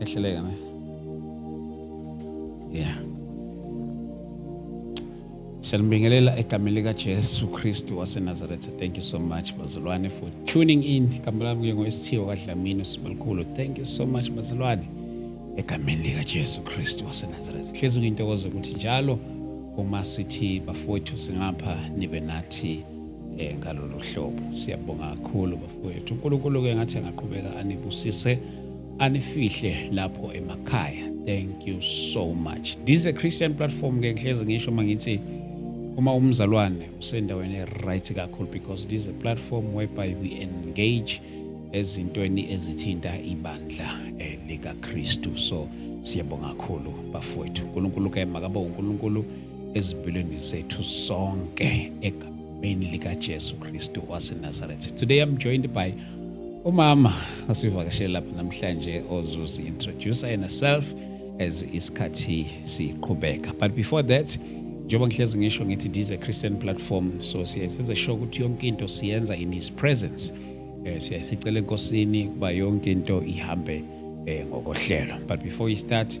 ehleleka ne yeah Siyanibingelela egameni lika Jesu Kristu waseNazaretha. Thank you so much bazalwane for tuning in. Igama lami kuye ngoSithiyo kaDlamini uSibalukhulu. Thank you so much bazalwane egameni lika Jesu Kristu waseNazaretha. Hlezi kuyintokozo ukuthi njalo uma sithi bafowethu singapha nibe nathi eh, ngalolu hlobo siyabonga kakhulu bafowethu unkulunkulu-ke ngathi angaqhubeka anibusise anifihle lapho emakhaya thank you so much this is a christian platform ke ngihlezi ngisho uma ngithi uma umzalwane usendaweni e-right kakhulu because this is a platform whereby we engage ezintweni ezithinta ibandla eh, likakristu so siyabonga kakhulu bafowethu unkulunkulu ke makabe unkulunkulu ezimpilweni zethu sonke egameni likaJesu Kristu waseNazaretha. Today I'm joined by umama osivakashele lapha namhlanje ozuzi introduce yena self as isikhathi siqhubeka. But before that njengoba ngihlezi ngisho ngithi this a Christian platform so siyasenza sure ukuthi yonke into siyenza in his presence. Eh siyasicela enkosini kuba yonke into ihambe eh ngokohlelo. But before we start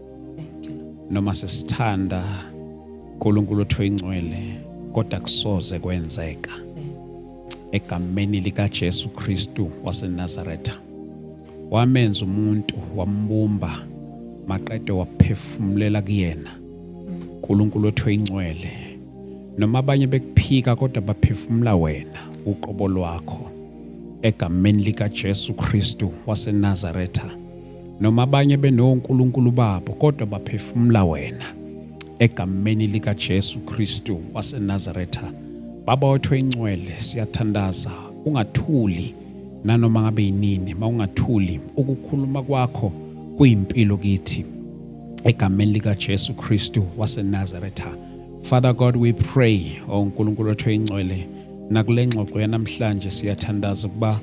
noma sesithanda uNkulunkulu othu ingcwele kodwa kusoze kwenzeka egameni likaJesu Kristu waseNazaretha wamenza umuntu wambumba maqede waphefumulela kuyena uNkulunkulu othu ingcwele noma abanye bekuphika kodwa baphefumula wena uqobo lwakho egameni likaJesu Kristu waseNazaretha Noma abanye benonkulunkulu babo kodwa baphefumula wena. Egameni likaJesu Kristu waseNazaretha, Baba wethu oyingcwele, siyathandaza ungathuli nanoma ngabe yinini, mawungathuli ukukhuluma kwakho kuyimpilo kithi. Egameni likaJesu Kristu waseNazaretha. Father God, we pray, oh uNkulunkulu wethu oyingcwele, nakule ngxoxo yanamhlanje siyathandaza ukuba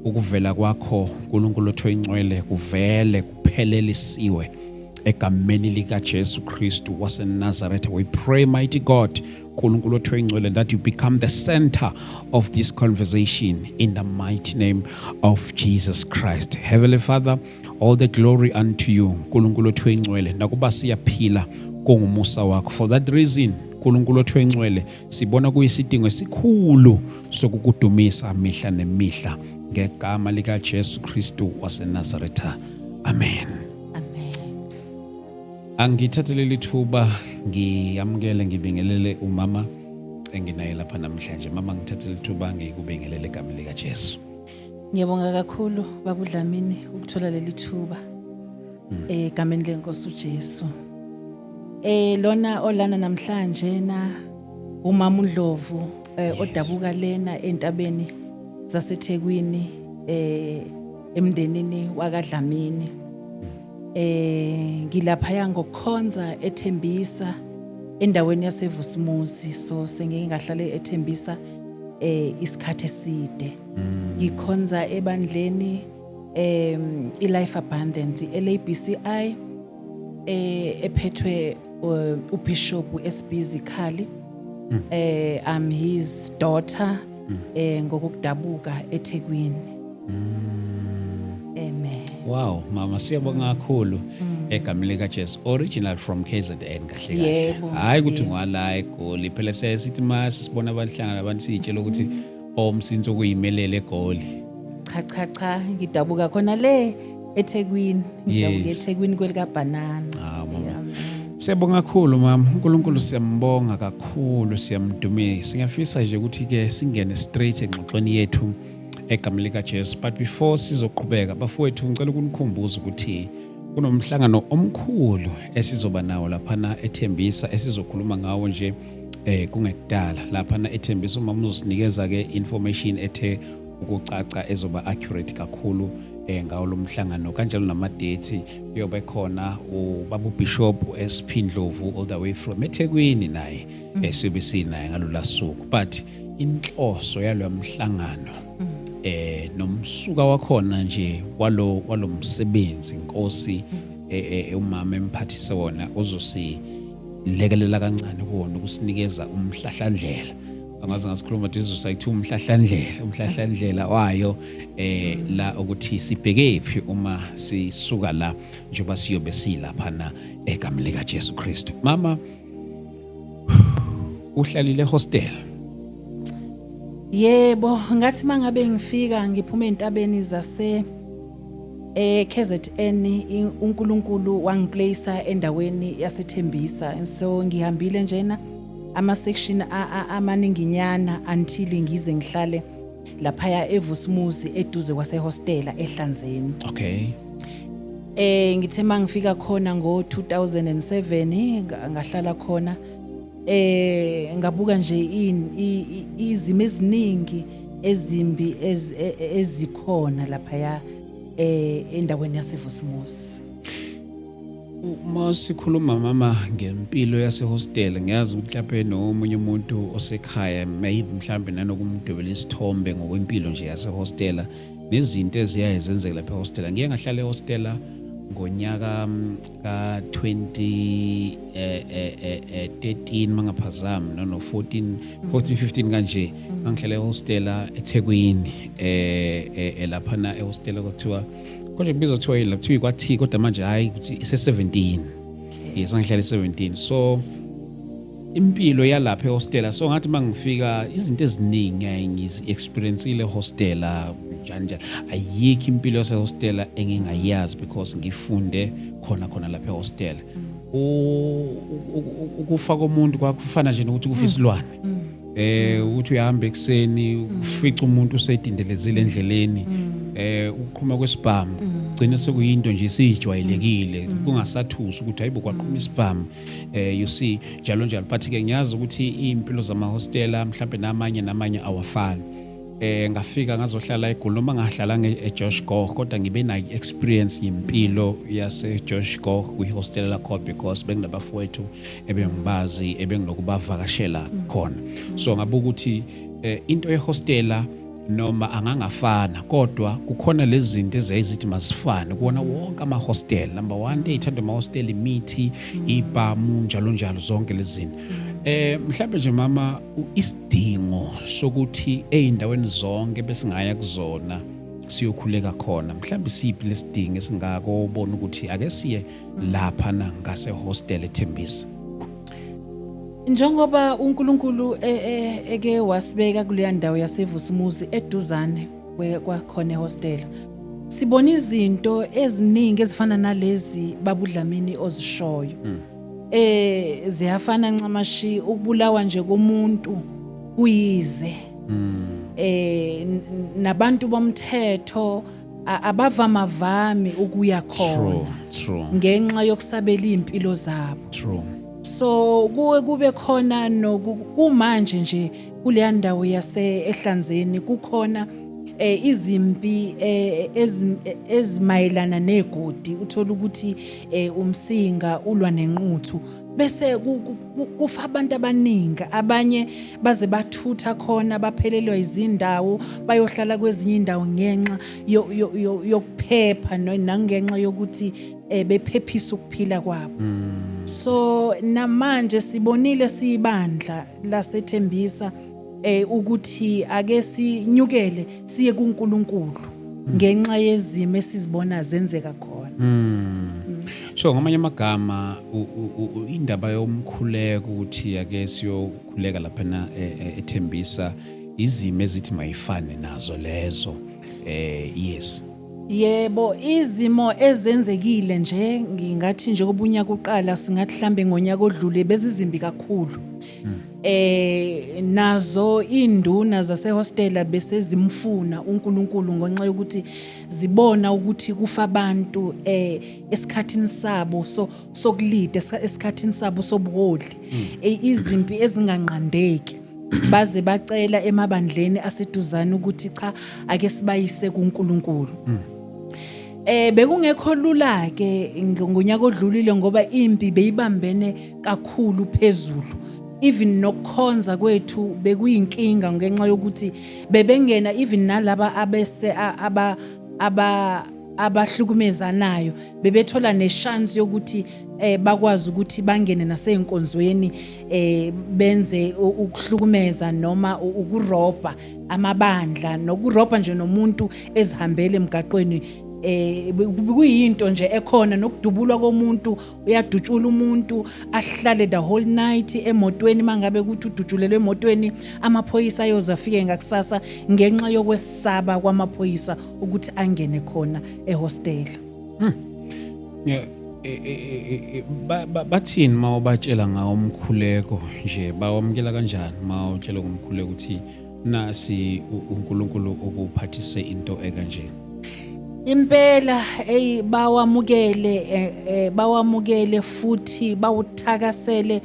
Ukuvela kwakho, Nkulunkulu othi oyingcwele, kuvele kuphelelisiwe egameni likaJesu Kristu waseNazaretha. We pray, mighty God, Nkulunkulu othi oyingcwele, that you become the center of this conversation in the mighty name of Jesus Christ. Heavenly Father, all the glory unto you, Nkulunkulu othi oyingcwele, nakuba siyaphila kungumusa wakho. For that reason, Nkulunkulu othi oyingcwele, Sibona kuyisidingo esikhulu sokukudumisa mihla nemihla ngegama likaJesu Kristu waseNazaretha. Amen. Amen. Angithathe leli thuba ngiyamukele ngibingelele umama enginaye lapha namhlanje. Mama ngithathe leli thuba ngikubingelele egameni likaJesu. Ngiyabonga kakhulu babu Dlamini ukuthola leli thuba hmm. egameni lenkosi uJesu. Eh lona olana namhlanje na umama uNdlovu eh, odabuka lena entabeni zaseThekwini eh emndenini wakaDlamini. Hmm. Eh ngilapha ya ngokukhonza ethembisa endaweni yaseVusumuzi so sengike ngahlale ethembisa eh isikhathi eside mm. ngikhonza ebandleni em iLife Abundance iLABCI eh ephethwe eh, uBishop SB Zikhali mm. eh I'm his daughter mm. eh ngokudabuka eThekwini Amen. Wow, mama siyabonga kakhulu egameni lika Jesu. Original from KZN kahle kahle. Yebo, Hayi ukuthi yebo. ngwala eGoli. Phela siyaye sithi uma sisibona abantu hlangana abantu siyitshela ukuthi omsinsi okuyimelele eGoli. Cha cha cha ngidabuka khona le eThekwini. Ngidabuka Yes. eThekwini kwelika banana. Ah, mama. Amen. Siyabonga kakhulu mama. uNkulunkulu siyambonga kakhulu, siyamdumisa. Ngiyafisa nje ukuthi ke singene straight engxoxweni yethu egameni likaJesu but before sizoqhubeka bafowethu ngicela ukunikhumbuza ukuthi kunomhlangano omkhulu esizoba nawo laphana ethembisa esizokhuluma ngawo nje eh kungekudala laphana ethembisa uma muzosinikeza ke information ethe ukucaca ezoba accurate kakhulu eh ngawo lomhlangano kanjalo namadate kuyobe khona ubabu bishop SP Ndlovu all the way from eThekwini naye mm. esiyobe sinaye ngalolasuku but inhloso yalo mhlangano mm. eh nomsuka wakhona nje walo walomsebenzi inkosi mm. eh, eh, eh, umama emphathise wona uzosi lekelela kancane kuwona ukusinikeza umhlahlandlela angaze ngasikhuluma dizu sayithi umhlahlandlela umhlahlandlela wayo eh la ukuthi sibheke phi uma sisuka la njengoba siyobe silapha na egamlika Jesu Kristu mama uhlalile hostel yebo ngathi mangabe ngifika ngiphume entabeni zase eh KZN uNkulunkulu wangiplace endaweni yasethembisa and so ngihambile njena ama section amaninginyana until ngize ngihlale laphaya eVusmuzi eduze kwasehostela eHlanzeni. Okay. Eh ngithe mangifika khona ngo-2007 nga- ngahlala khona eh ngabuka nje in- i- i- izimo eziningi ezimbi ez- e- e- ezikhona laphaya eh endaweni yaseVusmuzi. uma sikhuluma mama ngempilo yasehostela ngiyazi ukuthi lapho enomunye umuntu osekhaya maybe mhlawumbe nanokumdwebela isithombe ngokwempilo nje yasehostela nezinto eziyaye zenzeke lapha ehostela ngiye ngahlala ehostela ngonyaka mm, ka-2013 eh, eh, eh, mangaphazami nono-14 14 15 kanje ngangihlala ehostela ethekwini um laphana ehostela kwathiwa kodwa ibizo kuthiwa yini la kuthiwa ikwathi kodwa manje hhayi ukuthi ise-17 yes angihlale 17 so impilo yalapha ehostela so ngathi uma ngifika izinto eziningi ayi ngizi-experiencile ehostela njani njani ayikho impilo yasehostela engingayazi because ngifunde khona khona lapha ehostela ukufa komuntu kwakufana nje nokuthi kufa isilwane mm. eh mm. ukuthi uyahamba ekseni mm. ufica umuntu usedindelezile endleleni mm. eh ukuqhuma kwesibhamu gcina sekuyinto nje siyijwayelekile kungasathusi ukuthi hayibo kwaqhuma isibhamu eh you see njalo njalo but ke ngiyazi ukuthi impilo zama hostela mhlawumbe namanye namanye awafani eh ngafika ngazohlala eGoli noma ngahlala eJosh Goh kodwa ngibe na experience ngempilo yase Josh Goh kwi hostel lakho because benginabafowethu ebengibazi ebengilokubavakashela khona so ngabuka ukuthi eh, into yehostela noma angangafana kodwa kukhona lezi zinto ezayizithi mazifane kuwona wonke ama-hostel number one into eyithandwa ama-hostel imithi ibhamu njalo njalo zonke lezi zinto Eh mhlawumbe nje mama isidingo sokuthi ezindaweni zonke besingaya kuzona siyokhuleka khona mhlawumbe siphi lesidingo esingako ubona ukuthi ake siye lapha na ngase hostel eThembisa njengoba uNkulunkulu e, e, eke wasibeka kuleya ndawo yaseVusumuzi eduzane kwakhona ehostela sibona izinto eziningi ezifana nalezi babudlamini ozishoyo hmm. eh ziyafana ncamashi ukubulawa nje komuntu kuyize hmm. eh nabantu bomthetho A- abavamavami ukuya True, khona true, ngenxa yokusabela izimpilo zabo true. so kuwe kube khona noku kumanje nje kuleya ndawo yase ehlanzeni kukhona eh, izimpi eh, ezim- eh, ezimayelana negodi uthola ukuthi eh, umsinga ulwa nenquthu bese kufa abantu abaningi abanye baze bathutha khona baphelelwa izindawo bayohlala kwezinye indawo ngenxa yokuphepha nangenxa yokuthi eh, bephephisa ukuphila kwabo hmm. so namanje sibonile siyibandla lasethembisa eh ukuthi ake sinyukele siye kuNkulunkulu hmm. ngenxa yezimo esizibona zenzeka khona hmm. so ngamanye amagama indaba yomkhuleko ukuthi ake siyokhuleka lapha na e, e, ethembisa izimo ezithi mayifane nazo lezo eh yes Yebo izimo ezenzekile nje ngingathi njengoba unyaka uqala singathi hlambe ngonyaka odlule bezizimbi kakhulu. hmm. eh nazo induna zasehostela bese zimfuna uNkulunkulu ngonxa yokuthi zibona ukuthi kufa abantu eh esikhathini sabo so sokulida esikhathini sabo sobuholi hmm. eh, izimpi ezinganqandeki baze bacela emabandleni aseduzane ukuthi cha ake sibayise kuNkulunkulu hmm. eh bekungekho lula ke ngonyaka odlulile ngoba impi beyibambene kakhulu phezulu even nokukhonza kwethu bekuyinkinga ngenxa yokuthi bebengena even nalaba abese aba aba abahlukumezanayo bebethola neshance yokuthi eh bakwazi ukuthi bangene naseyinkonzweni eh benze ukuhlukumeza noma ukurobha amabandla nokurobha nje nomuntu ezihambele emgaqweni eh kuyinto nje ekhona nokudubulwa komuntu uyadutshula umuntu ahlale the whole night emotweni mangabe ukuthi udutshulelwe emotweni amaphoyisa ayoze afike ngakusasa ngenxa yokwesaba kwamaphoyisa ukuthi angene khona ehostela hmm. e, e, e, bathini uma ubatshela ngawo umkhuleko nje bawamukela kanjani uma utshela ngomkhuleko ukuthi Nasi uNkulunkulu ukuphathise into ekanje. Impela ey bawamukele eh, eh, bawamukele futhi bawuthakasele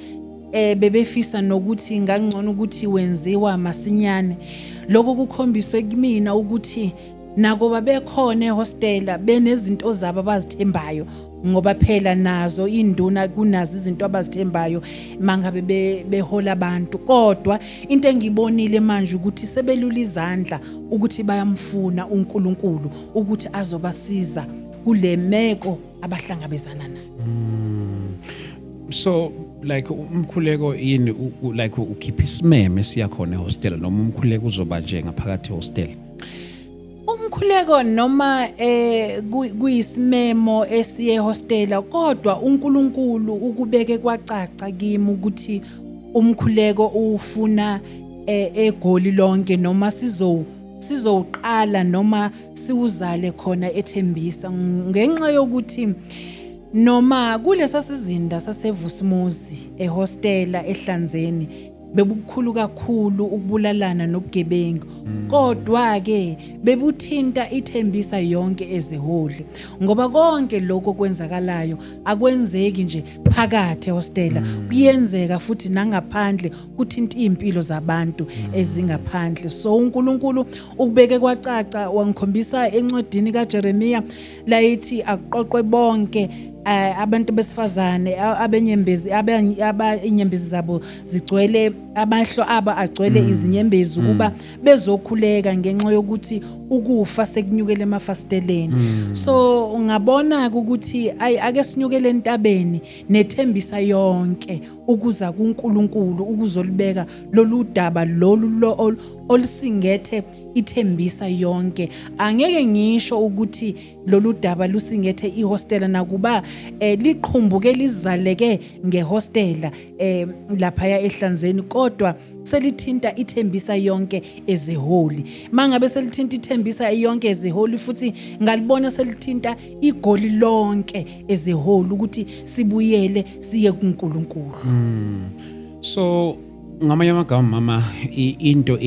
eh bebefisa nokuthi ngangcono ukuthi wenziwa masinyane lokho kukhombiswe kumina ukuthi Nakuba bekhona ehostela benezinto zabo abazithembayo ngoba phela nazo induna kunazo izinto abazithembayo mangabe behola abantu kodwa into engibonile manje ukuthi sebelula izandla ukuthi bayamfuna uNkulunkulu ukuthi azobasiza kulemeko abahlangabezana nayo hmm. so like umkhuleko yini like ukhipha isimeme siya khona ehostel noma umkhuleko uzoba nje ngaphakathi ehostel umkhuleko noma eh kuyisimemo esiye hostela kodwa uNkulunkulu ukubeke kwacaca kimi ukuthi umkhuleko ufuna eh, egoli lonke noma sizo sizowuqala noma siwuzale khona ethembisa ngenxa yokuthi noma kulesa sizinda sasevusimuzi ehostela ehlanzeni bebubukhulu kakhulu ukubulalana nobugebengu kodwa-ke bebuthinta ithembisa yonke eziholi ngoba konke lokho kwenzakalayo akwenzeki nje phakathi ehostela mm. kuyenzeka futhi nangaphandle kuthinta iy'mpilo zabantu mm. ezingaphandle so unkulunkulu ukubeke kwacaca wangikhombisa encwadini kajeremiya layithi akuqoqwe bonke eh, abantu besifazane abenyembezi abanyembezi zabo zigcwele amahlo abo agcwele mm. izinyembezi mm. ukuba bezokhuleka ngenxa yokuthi ukufa sekunyukele emafasteleni mm. so ngabona ukuthi ayi ake sinyukele entabeni nethembisa yonke ukuza kuNkulunkulu ukuzolibeka lolu daba lolu olusingethe ithembisa yonke angeke ngisho ukuthi lolu daba lusingethe ihostela nakuba eh, liqhumbuke lizaleke ngehostela eh, laphaya ehlanzeni kodwa selithinta ithembisa yonke ezeholi mangabe selithinta ithembisa yonke ezeholi futhi ngalibona selithinta igoli lonke ezeholi ukuthi sibuyele siye kuNkulunkulu mm. so Ngamanye amagama mama into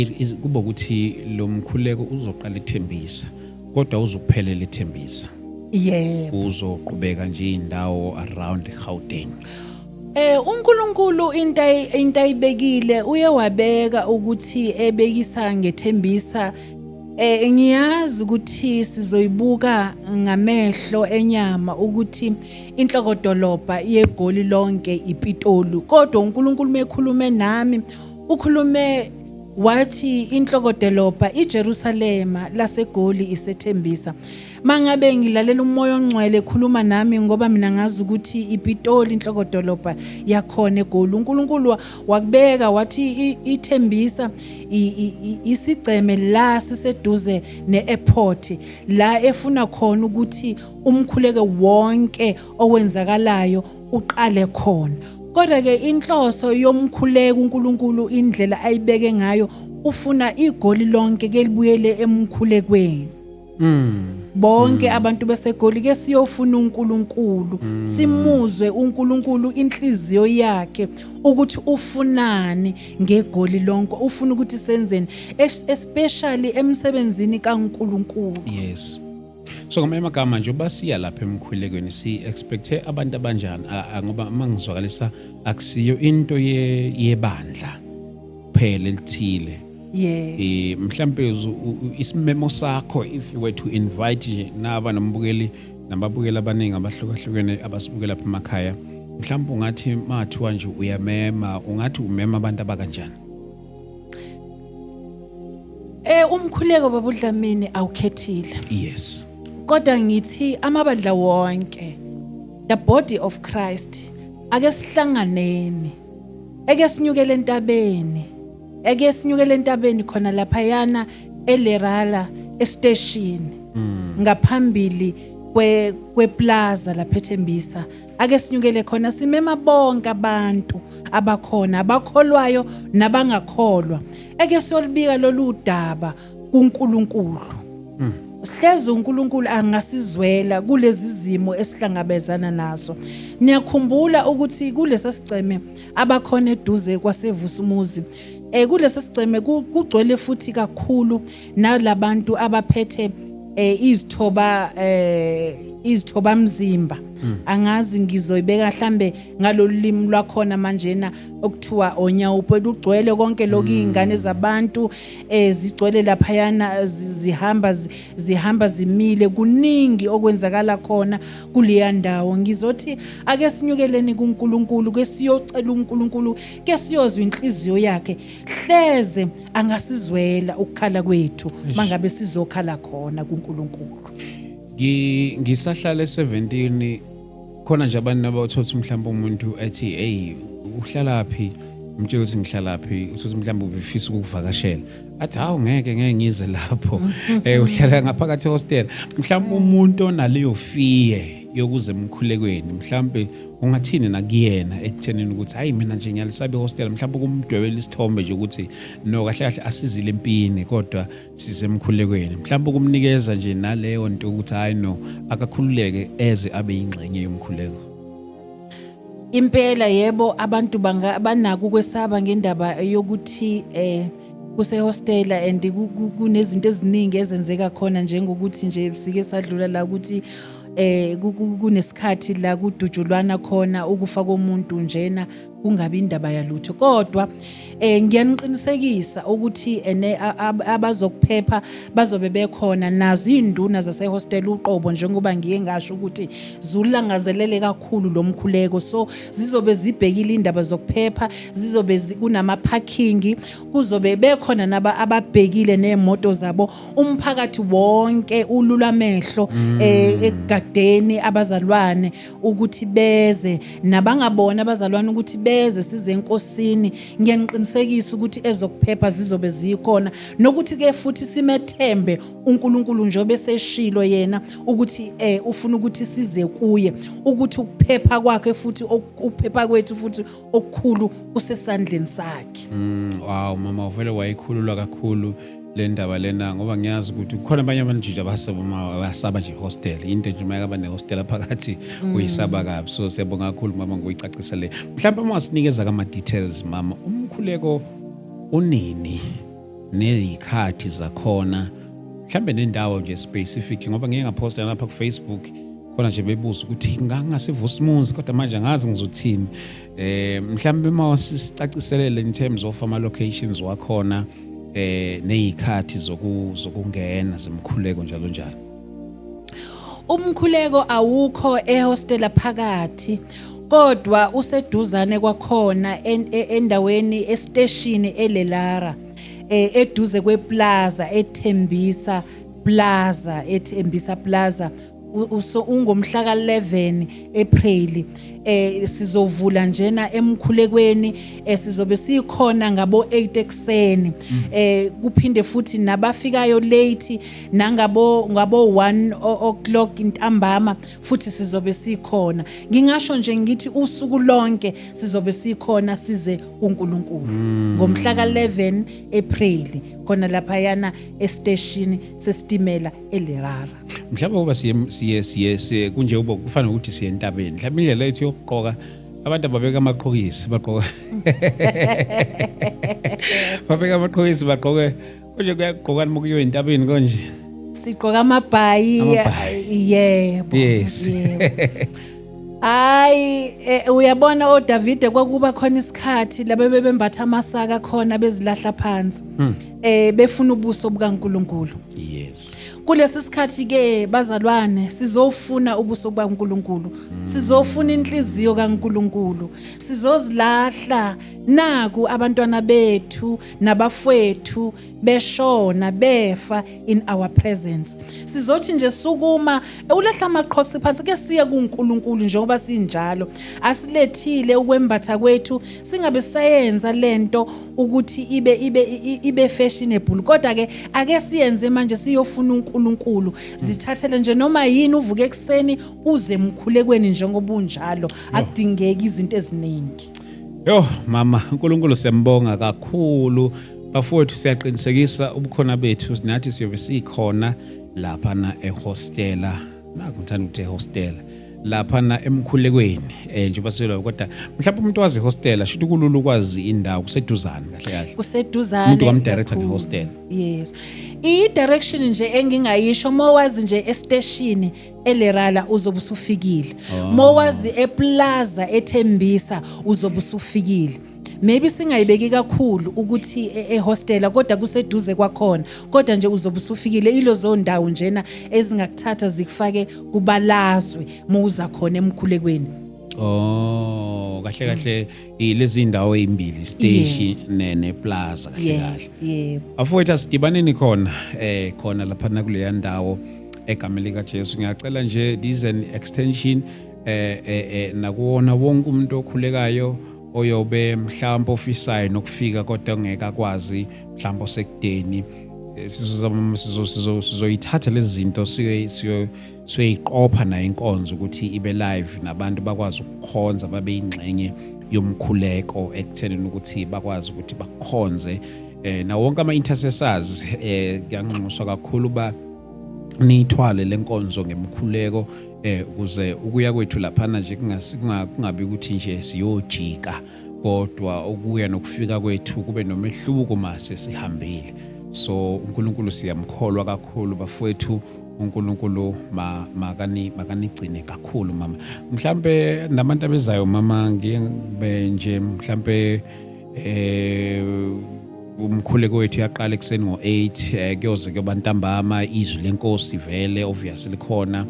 kuba ukuthi lo mkhuleko uzoqala ethembisa kodwa uzokuphelela ethembisa yebo uzoqhubeka nje indawo around Gauteng Eh uNkulunkulu into into ayibekile uye wabeka ukuthi ebekisa ngethembisa eh ngiyazi ukuthi sizoyibuka ngamehlo enyama ukuthi Inhlokodolobha yeGoli lonke iPitoli. Kodwa uNkulunkulu mekhulume nami ukhulume wathi inhlokodolobha iJerusalema laseGoli isethembisa mangabe ngilalela umoya ongcwele khuluma nami ngoba mina ngazi ukuthi iPitoli inhlokodolobha yakhona eGoli uNkulunkulu wakubeka wathi ithembisa isigceme la siseduze neairport la efuna khona ukuthi umkhuleke wonke owenzakalayo uqale khona kodwa ke inhloso yomkhuleko uNkulunkulu indlela ayibeke ngayo ufuna igoli lonke ke libuyele emkhulekweni mm. bonke mm. abantu besegoli ke siyofuna uNkulunkulu mm. simuzwe uNkulunkulu inhliziyo yakhe ukuthi ufunani ngegoli lonke ufuna ukuthi senzeni especially emsebenzini kaNkulunkulu yes so ngamanye amagama nje uba siya lapha emkhulekweni si-expecthe abantu abanjani ngoba uma ngizwakalisa akusiyo into yebandla kuphela elithile yeah. e, mhlampe isimemo sakho if you were to invite nje naba nombukeli nababukeli abaningi abahlukahlukene abasibukela pha emakhaya mhlawumbe ungathi mathiwa nje uyamema ungathi umema abantu abakanjani Eh umkhuleko babudlamini awukhethile. Yes. Kodwa ngithi amabandla wonke the body of Christ ake sihlanganeni. Eke sinyukele entabeni. Eke sinyukele entabeni khona lapha yana eLerala estation. Mm. Ngaphambili kwe kweplaza lapha eThembisa ake sinyukele khona simema bonke abantu abakhona abakholwayo nabangakholwa eke solibika lolu daba kuNkulunkulu mm. sihleze uNkulunkulu angasizwela kulezi zimo esihlangabezana nazo niyakhumbula ukuthi kulesa sigceme abakhona eduze kwasevusumuzi eh kulesa sigceme kugcwele futhi kakhulu nalabantu abaphethe eh izithoba eh izithoba mzimba hmm. angazi ngizoyibeka hlambe ngalolimi lwakhona manje na okuthiwa onyawupo elugcwele konke lokho hmm. izingane zabantu eh zigcwele lapha yana zihamba zihamba zimile kuningi okwenzakala khona kuleya ndawo ngizothi ake sinyukeleni kuNkulunkulu ke siyocela uNkulunkulu ke siyozwa inhliziyo yakhe hleze angasizwela ukukhala kwethu mangabe sizokhala khona kuNkulunkulu ngisahlala e17 khona nje abantu nabathotha umhlawumbe umuntu ethi hey uhlalaphi umtshela ukuthi ngihlalaphi uthothi mhlawumbe ubefisa ukuvakashela athi hawu ngeke ngeke ngize lapho um uhlala ngaphakathi ehostela mhlawumbe umuntu onaleyo fiye yokuza emkhulekweni mhlawumbe ungathini nakuyena ekuthenini ukuthi hayi mina nje ngiyalisaba ihostela mhlawumbe ukumdwebela isithombe nje ukuthi no kahle kahle asizile empini kodwa sisemkhulekweni mhlawumbe ukumnikeza nje naleyo nto ukuthi hayi no akakhululeke eze abe yingxenye yomkhuleko impela yebo abantu banako ukwesaba ngendaba yokuthi eh kusehostela and kunezinto eziningi ezenzeka khona njengokuthi nje sike sadlula la ukuthi eh kunesikhathi la kudujulwana khona ukufa komuntu njena kungabi indaba yalutho kodwa eh ngiyaniqinisekisa ukuthi ene abazokuphepha bazobe bekhona nazo izinduna zase hostel uqobo njengoba ngiye ngasho ukuthi zulangazelele kakhulu lomkhuleko so zizobe zibhekile indaba zokuphepha zizobe kunama parking kuzobe bekhona naba ababhekile nemoto zabo umphakathi wonke ulula amehlo mm. eh, ekugagdeni abazalwane ukuthi beze nabangabona abazalwane ukuthi beze size enkosini ngiyaniqinisekisa ukuthi ezokuphepha zizobe zikhona nokuthi ke futhi simethembe uNkulunkulu njobe seshilo yena ukuthi eh ufuna ukuthi size kuye ukuthi ukuphepha kwakhe futhi ukuphepha kwethu futhi okukhulu kusesandleni sakhe mm, wow mama uvele wayikhululwa kakhulu le ndaba lena ngoba ngiyazi ukuthi kukhona abanye abanjija abasaba nje hostel into nje uma yaba nehostela phakathi mm. uyisaba kabi so siyabonga kakhulu mama ngokuyicacisele mhlawumbe uma wasinikeza kama-details mama umkhuleko unini Nezikhathi zakhona mhlambe nendawo nje specifically ngoba ngike ngaposta lapha ku Facebook khona nje bebuza ukuthi ngangasivusa imunzi kodwa manje angazi ngizothini eh mhlambe uma sicaciselele in terms of ama locations wakhona eh nezikhathi zokungena zimkhuleko njalo njalo Umkhuleko awukho ehostela phakathi kodwa useduzane kwakhona e, endaweni esiteshini eLelara eh, eduze kweplaza ethembisa plaza ethembisa plaza ungomhla ka-11 April eh sizovula njena emkhulekweni eh, sizobe sikhona ngabo 8 ekseni mm. eh kuphinde futhi nabafikayo late nangabo ngabo 1 o'clock intambama futhi sizobe sikhona ngingasho nje ngithi usuku lonke sizobe sikhona size uNkulunkulu mm. ngomhla ka 11 April khona lapha yana esteshini sesitimela eLerara mhlawumbe kuba siye siye siye, siye kunje ubo kufanele ukuthi siye entabeni mhlawumbe indlela yethu yokuqoka abantu ababeka amaqhokisi baqoka babeka amaqhokisi baqoke Konje kuyagqokani uma kuyiwa entabeni konje? Sigqoka amabhayi. Amabhayi. Yebo. Yes. Hayi eh, uyabona oDavide kwakuba khona isikhathi laba bebembatha amasaka khona bezilahla phansi. Hmm. Eh befuna ubuso bukaNkuluNkulu. Yes. Kulesi sikhathi ke bazalwane sizofuna ubuso bukaNkuluNkulu. Hmm. Sizofuna inhliziyo kaNkuluNkulu. Sizozilahla naku abantwana bethu nabafwethu beshona befa in our presence sizothi nje sukuma ulahla amaqhoksi phansi ke siye kuNkulunkulu njengoba sinjalo asilethile ukwembatha kwethu singabe sayenza lento ukuthi ibe ibe ibe fashionable kodwa ke ake siyenze manje siyofuna uNkulunkulu zithathele nje noma yini uvuke ekseni uze emkhulekweni njengoba unjalo akudingeki izinto eziningi Yo mama uNkulunkulu siyambonga kakhulu bafowethu siyaqinisekisa ubukhona bethu sinathi siyobe sikhona lapha na ehostela nakungithanda ukuthi ehostela lapha na emkhulekweni eh njengoba silo kodwa mhlawumbe umuntu wazi hostela shuthi kulula ukwazi indawo kuseduzane kahle kahle kuseduzane umuntu wamdirector ne hostela yes i direction nje engingayisho uma wazi nje esteshini elerala uzobe usufikile oh. mowazi eplaza ethembisa uzobe usufikile maybe singayibeki kakhulu ukuthi e, ehostela kodwa kuseduze kwakhona kodwa nje uzobe usufikile ilozo ndawo njena ezingakuthatha zikufake kubalazwe muza khona emkhulekweni oh kahle kahle lezi ndawo ezimbili station yeah. ne neplaza kahle yeah. kahle yeah. afowethu asidibaneni khona eh khona lapha nakuleya ndawo egameni likaJesu ngiyacela nje this an extension eh, eh, eh nakuwona wonke umuntu okhulekayo oyobe mhlawumbe ofisayo nokufika kodwa ngeke akwazi mhlawumbe osekudeni eh, sizoyithatha lezi zinto siyoy Siyoyiqopha nayo inkonzo ukuthi ibe live nabantu bakwazi ukukhonza babe yingxenye yomkhuleko ekuthenini ukuthi bakwazi ukuthi bakhonze eh na wonke ama intercessors eh kuyanxuswa kakhulu ba niyithwale lenkonzo ngemkhuleko eh ukuze ukuya kwethu lapha nje kungabi ukuthi nje siyojika kodwa ukuya nokufika kwethu kube nomehluko mase sihambile so uNkulunkulu siyamkholwa kakhulu bafowethu uNkulunkulu ma, makani makanigcine kakhulu mama mhlambe nabantu abezayo mama ngibe nje mhlambe eh umkhuleko wethu yaqala ekuseni ngo-8 eh, kuyoze kuyoba ntambama izwi lenkosi vele obvious likhona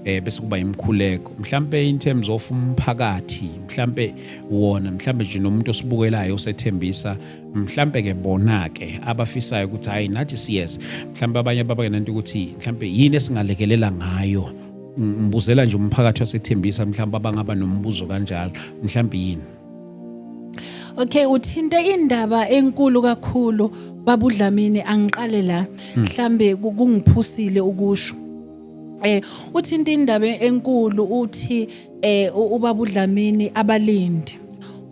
eh bese kuba imkhuleko mhlambe in terms of umphakathi mhlambe wona mhlambe nje nomuntu osibukelayo osethembisa mhlampe ke bona ke abafisayo ukuthi hayi nathi siyes mhlampe abanye ababangenanto ukuthi mhlampe yini esingalekelela ngayo ngibuzela nje umphakathi wasethembisa mhlawumbe abangaba nombuzo kanjalo mhlawumbe yini okay uthinte indaba enkulu kakhulu babudlamini angiqale la hmm. mhlambe kungiphusile ukusho Eh uthinta indaba enkulu uthi eh ubaba uDlamini abalindi.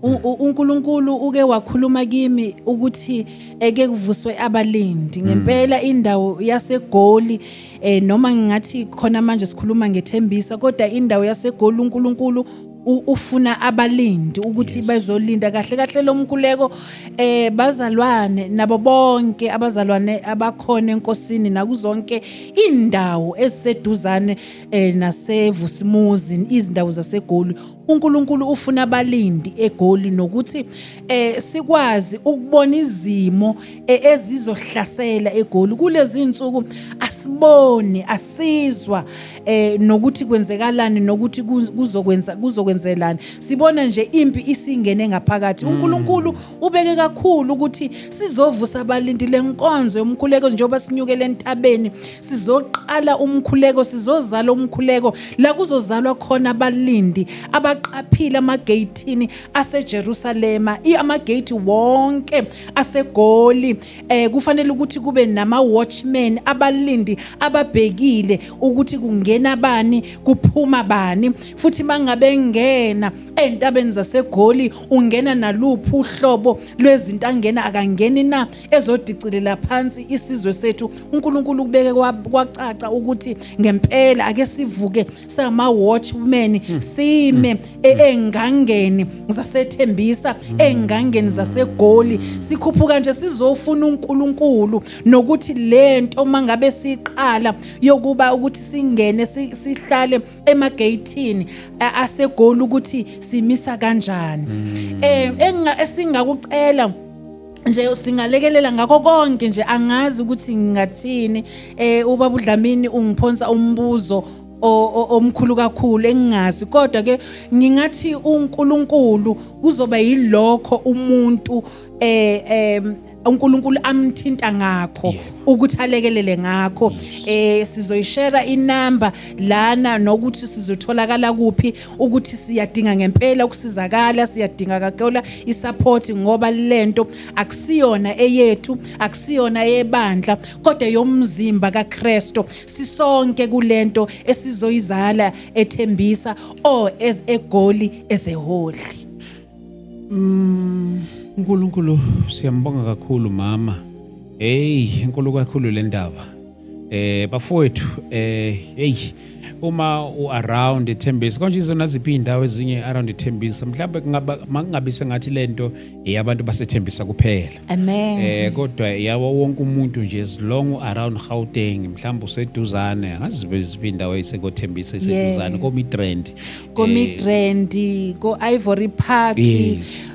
uNkulunkulu uke wakhuluma kimi ukuthi eke kuvuswe abalindi hmm. ngempela indawo yasegoli eh noma ngingathi khona manje sikhuluma ngethembisa kodwa indawo yasegoli uNkulunkulu ufuna abalindi ukuthi yes. bezolinda kahle kahle lo mkhuleko eh bazalwane nabo bonke abazalwane abakhona enkosini nakuzonke indawo eziseduzane eh nasevusimuzi izindawo zasegoli uNkulunkulu ufuna abalindi egoli nokuthi eh sikwazi ukubona izimo eh, ezizohlasela egoli kulezi insuku asiboni asizwa eh nokuthi kwenzekalani nokuthi kuzokwenza kuzokwenzelani sibona nje impi isingene ngaphakathi mm. uNkulunkulu ubeke kakhulu ukuthi sizovusa abalindile nkonzo yomkhuleko njengoba sinyukele entabeni sizoqala umkhuleko sizozala umkhuleko la kuzozalwa khona abalindi abaqaphile amageyithini aseJerusalema amageythi wonke asegoli eh kufanele ukuthi kube nama watchmen abalindi ababhekile ukuthi kungena bani kuphuma bani futhi mangabe ngena entabeni zasegoli ungena naluphi uhlobo lwezinto angena akangeni na ezodicilela phansi isizwe sethu uNkulunkulu kubeke kwacaca ukuthi ngempela ake sivuke sama watchmen sime engangeni zasethembisa engangeni zasegoli sikhuphuka nje sizofuna uNkulunkulu nokuthi lento mangabe siqala yokuba ukuthi singene sihlale emageyithini asegoli ukuthi simisa kanjani eh engasingakucela nje singalekelela ngakho konke nje angazi ukuthi ngingathini eh ubaba uDlamini ungiphonsa umbuzo omkhulu kakhulu engingazi kodwa ke ngingathi uNkulunkulu kuzoba yilokho umuntu eh em uNkulunkulu amthinta ngakho ukuthi alekelele ngakho eh sizoyishare inamba lana nokuthi sizotholakala kuphi ukuthi siyadinga ngempela ukusizakala siyadinga kakhulu isupport ngoba lento akusiyona eyethu akusiyona eyebandla kodwa yomzimba kaKristu sisonke kulento esizoyizala ethembisa o as egoli ezeholi mm uNkulunkulu siyambonga kakhulu mama hey inkulu kakhulu le ndaba Eh bafowethu eh hey uma u around ethembisa konje izona ziphi indawo ezinye around ethembisa mhlawumbe kungaba makungabe sengathi lento eyabantu basethembisa kuphela amen eh kodwa yawo wonke umuntu nje as long u around Gauteng mhlawumbe useduzane angazibe ziphi indawo esekothembisa iseduzane yeah. ko Midrand ko eh, Midrand ko Ivory Park yes.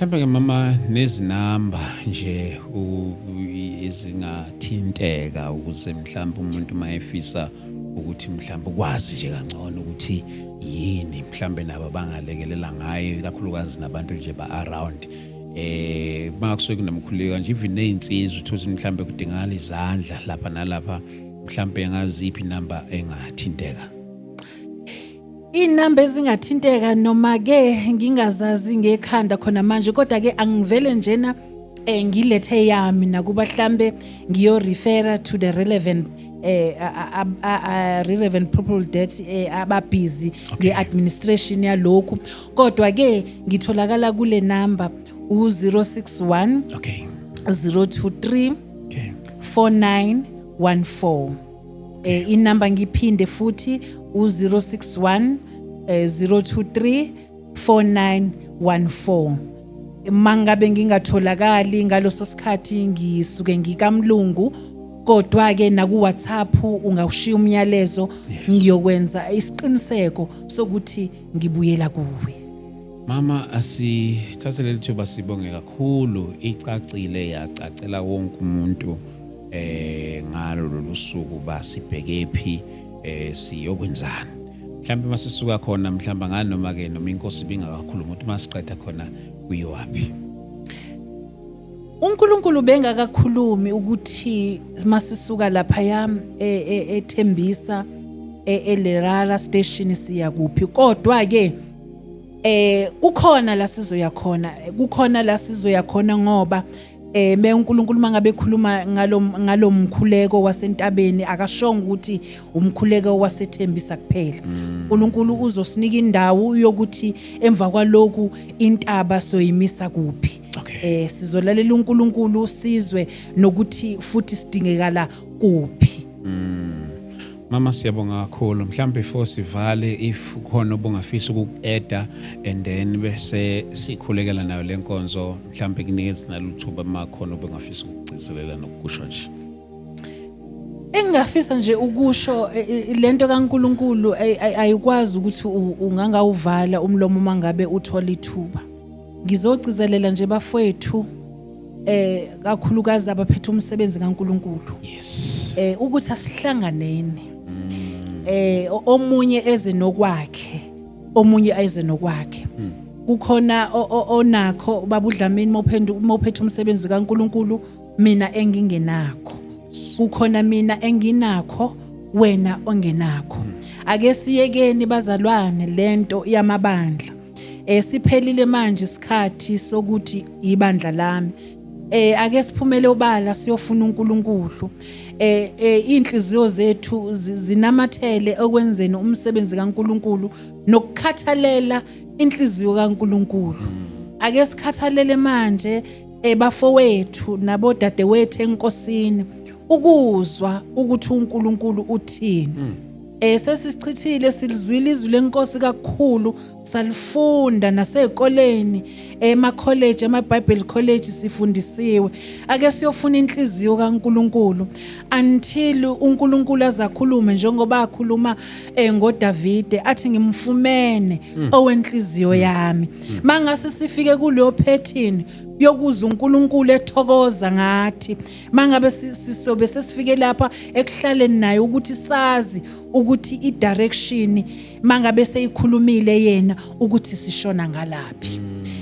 mhlawumbe-ke mama nezinamba nje ezingathinteka ukuze mhlawumbe umuntu uma efisa ukuthi mhlawumbe ukwazi nje kangcono ukuthi yini mhlawumbe nabo abangalekelela ngayo ikakhulukazi nabantu nje ba-around eh makusuke kunomkhuleko nje even nezinsizwa uthothi mhlambe kudingakala izandla lapha nalapha mhlambe ngaziphi number engathinteka Inamba ezingathinteka noma ke ngingazazi ngekhanda khona manje kodwa ke angivele njena eh ngilethe yami nakuba hlambe ngiyo refer to the relevant eh relevant people that eh, ababhizi ngeadministration yalokhu kodwa ke ngitholakala kule number u061 okay 023 okay 4914 eh inamba ngiphinde futhi u061 023 4914 mangabe ngingatholakali ngaloso sikhathi ngisuke ngikamlungu kodwa ke naku WhatsApp ungawushiya umyalezo ngiyokwenza isiqiniseko sokuthi ngibuyela kuwe Mama asithathe leli thuba sibonge kakhulu icacile yacacela wonke umuntu eh ngalo lolusuku ba sibhekephi eh siyokwenzani mhlawumbe masisuka khona mhlawumbe ngani noma ke noma inkosi bingakakhuluma ukuthi masiqeda khona kuyiwapi uNkulunkulu bengakakhulumi ukuthi masisuka lapha yam e, e, ethembisa e, eLerara station siya kuphi kodwa ke eh kukhona la sizoya khona kukhona la sizoya khona ngoba eh me uNkulunkulu mangabe ekhuluma ngalo ngalomkhuleko wasentabeni akashonga ukuthi umkhuleko wasethembisa kuphela mm. uNkulunkulu uzosinika indawo yokuthi emva kwaloku intaba soyimisa kuphi eh sizolalela uNkulunkulu sizwe nokuthi futhi sidingekala kuphi mm. Mama siyabonga kakhulu mhlawumbe before sivale if khona obungafisa ukuku-eda and then bese sikhulekela nayo le nkonzo mhlawumbe kunikezi naluthuba uma khona obungafisa ukugcizelela nokukusho nje engingafisa nje ukusho e, e, e, lento kaNkuluNkulu ayikwazi ukuthi ungangawuvala umlomo mangabe uthola ithuba ngizogcizelela nje bafowethu eh kakhulukazi abaphethe umsebenzi kaNkuluNkulu yes eh ukuthi asihlanganeni mm. eh omunye eze nokwakhe omunye eze nokwakhe mm. kukhona onakho babudlamini mophenduka mophethe umsebenzi kaNkuluNkulu mina engingenakho kukhona mina enginakho wena ongenakho mm. ake siyekeni bazalwane lento yamabandla Eh siphelile manje isikhathi sokuthi ibandla lami. Eh ake siphumele obala siyofuna uNkulunkulu. Eh, eh inhliziyo zethu zinamathele okwenzeni umsebenzi kaNkulunkulu nokukhathalela inhliziyo kaNkulunkulu. Ake sikhathalele manje ebafowethu eh, nabodadewethu enkosini ukuzwa ukuthi uNkulunkulu uthini. Mm. Eh sesisichithile silizwile izwi lenkosi kakhulu salifunda nasezikoleni ema college ama Bible college sifundisiwe ake siyofuna inhliziyo kaNkuluNkulu until uNkuluNkulu azakhulume njengoba akhuluma eh, ngoDavide athi ngimfumene hmm. owenhliziyo hmm. yami hmm. mangase sifike kuleyo pattern yokuza uNkulunkulu ethokoza ngathi mangabe sisobe sesifike lapha ekuhlaleni naye ukuthi sazi ukuthi idirection mangabe seyikhulumile yena ukuthi sishona ngalaphi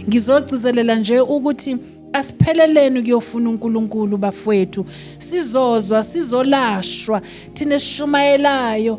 ngizogcizelela nje ukuthi asipheleleni kuyofuna uNkulunkulu bafowethu sizozwa sizolashwa thina esishumayelayo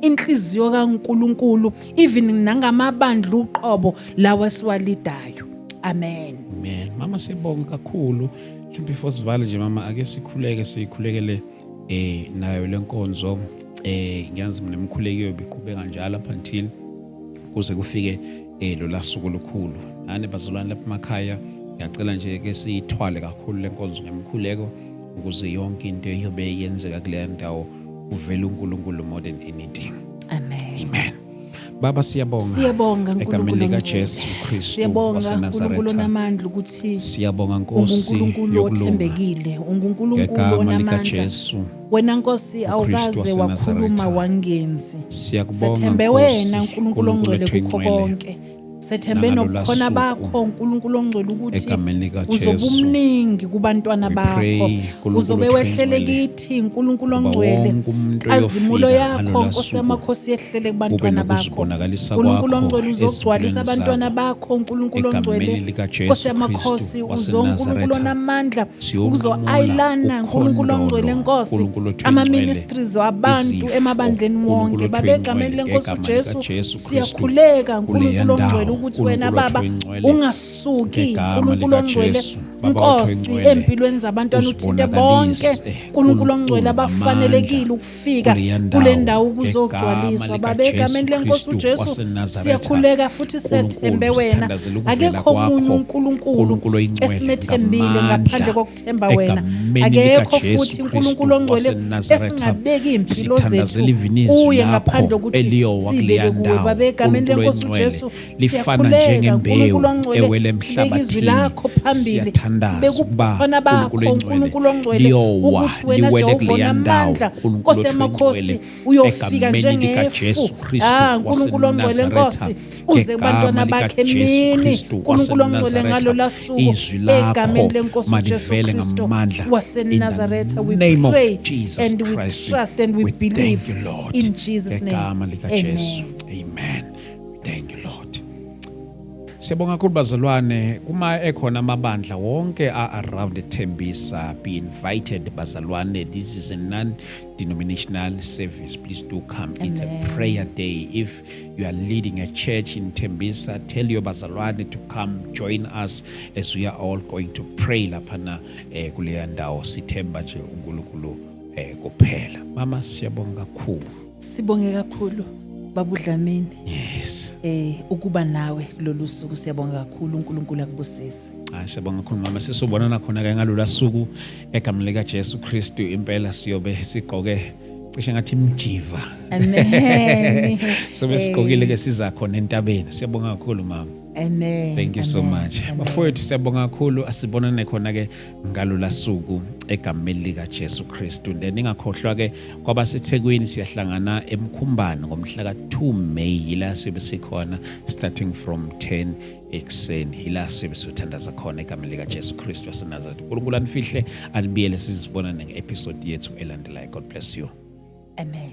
inhliziyo kaNkuluNkulu even nangamabandla uqobo lawa siwalidayo amen amen mama sibonga kakhulu mhlawumbe before sivale nje mama ake sikhuleke sikhulekele eh nayo lenkonzo eh ngiyazi mina imkhulekiyo biqhubeka njalo up until kuze kufike eh lo lasuku lukhulu nane bazalwane lapha emakhaya ngiyacela nje ke siyithwale kakhulu lenkonzo ngemkhuleko ukuze yonke into iyobe yenzeka kuleya ndawo uvela uNkulunkulu more than anything amen amen baba siyabonga siyabonga egameni lika Jesu Kristu siyabonga uNkulunkulu onamandla ukuthi siyabonga Nkosi uNkulunkulu othembekile uNkulunkulu onamandla wena Nkosi awukaze wakhuluma wangenzi siyakubonga Nkosi sethembe wena uNkulunkulu ongcwele kukho konke Sethembe nobukhona bakho uNkulunkulu ongcwele ukuthi uzobe umningi kubantwana bakho uzobe wehlele kithi uNkulunkulu ongcwele azimulo yakho Nkosi yamakhosi yehlele kubantwana bakho uNkulunkulu ongcwele uzogcwalisa abantwana bakho uNkulunkulu ongcwele Nkosi yamakhosi uzoNkulunkulu onamandla uzoayilana uNkulunkulu ongcwele Nkosi ama ministries wabantu emabandleni wonke babegameni lenkosi uJesu siyakhuleka nkulunkulu ongcwele ukuthi wena baba ungasuki nkulunkulu ongcwele nkosi empilweni zabantwana uthinte bonke nkulunkulu ongcwele abafanelekile ukufika kule ndawo ukuzogcwaliswa baba egameni lenkosi ujesu siyakhuleka futhi sethembe wena akekho omunye unkulunkulu esimethembile ngaphandle sithemba wena akekho futhi uNkulunkulu ongcwele esingabeki impilo zethu kuye ngaphandle ukuthi sibeke kuwe baba egameni lenkosi uJesu siyakhuleka uNkulunkulu ongcwele sibeke izwi lakho phambili sibeke ubukhona bakho uNkulunkulu ongcwele ukuthi wena Jehova unamandla nkosi yamakhosi uyofika njengefu ah uNkulunkulu ongcwele nkosi uze kubantwana bakhe mini uNkulunkulu ongcwele ngalo lasuku egameni lenkosi uJesu Kristu waseNazaretha we pray and we trust and we believe in Jesus name amen amen thank you lord Siyabonga kakhulu bazalwane kuma ekhona amabandla wonke a around Thembisa be invited bazalwane this is a non denominational service please do come Amen. it's a prayer day if you are leading a church in Tembisa, tell your bazalwane to come join us as we are all going to pray laphana eh, kuleya ndawo sithemba nje uNkulunkulu eh, kuphela. Mama siyabonga kakhulu. Sibonge kakhulu babudlamini. Yes. Eh ukuba nawe kulolu suku siyabonga kakhulu uNkulunkulu akubusise. Ah siyabonga kakhulu mama sisobonana khona ke ngalolu suku egamle lika Jesu Kristu impela siyobe sigqoke cishe ngathi mjiva amen sobe sigqokile ke siza khona entabeni siyabonga kakhulu mama Amen. Thank you so much. Bafowethu siyabonga kakhulu asibonane khona ke ngalula suku egameni lika Jesu Kristu. Then ingakhohlwa ke kwaba seThekwini siyahlangana eMkhumbane ngomhla ka 2 May yila sibe sikhona starting from 10 ekuseni yila siyobe siyothandaza khona egameni likajesu kristu wasenazaretha unkulunkulu anifihle anibiyele sizibonane nge-episode yethu elandelayo god bless you amen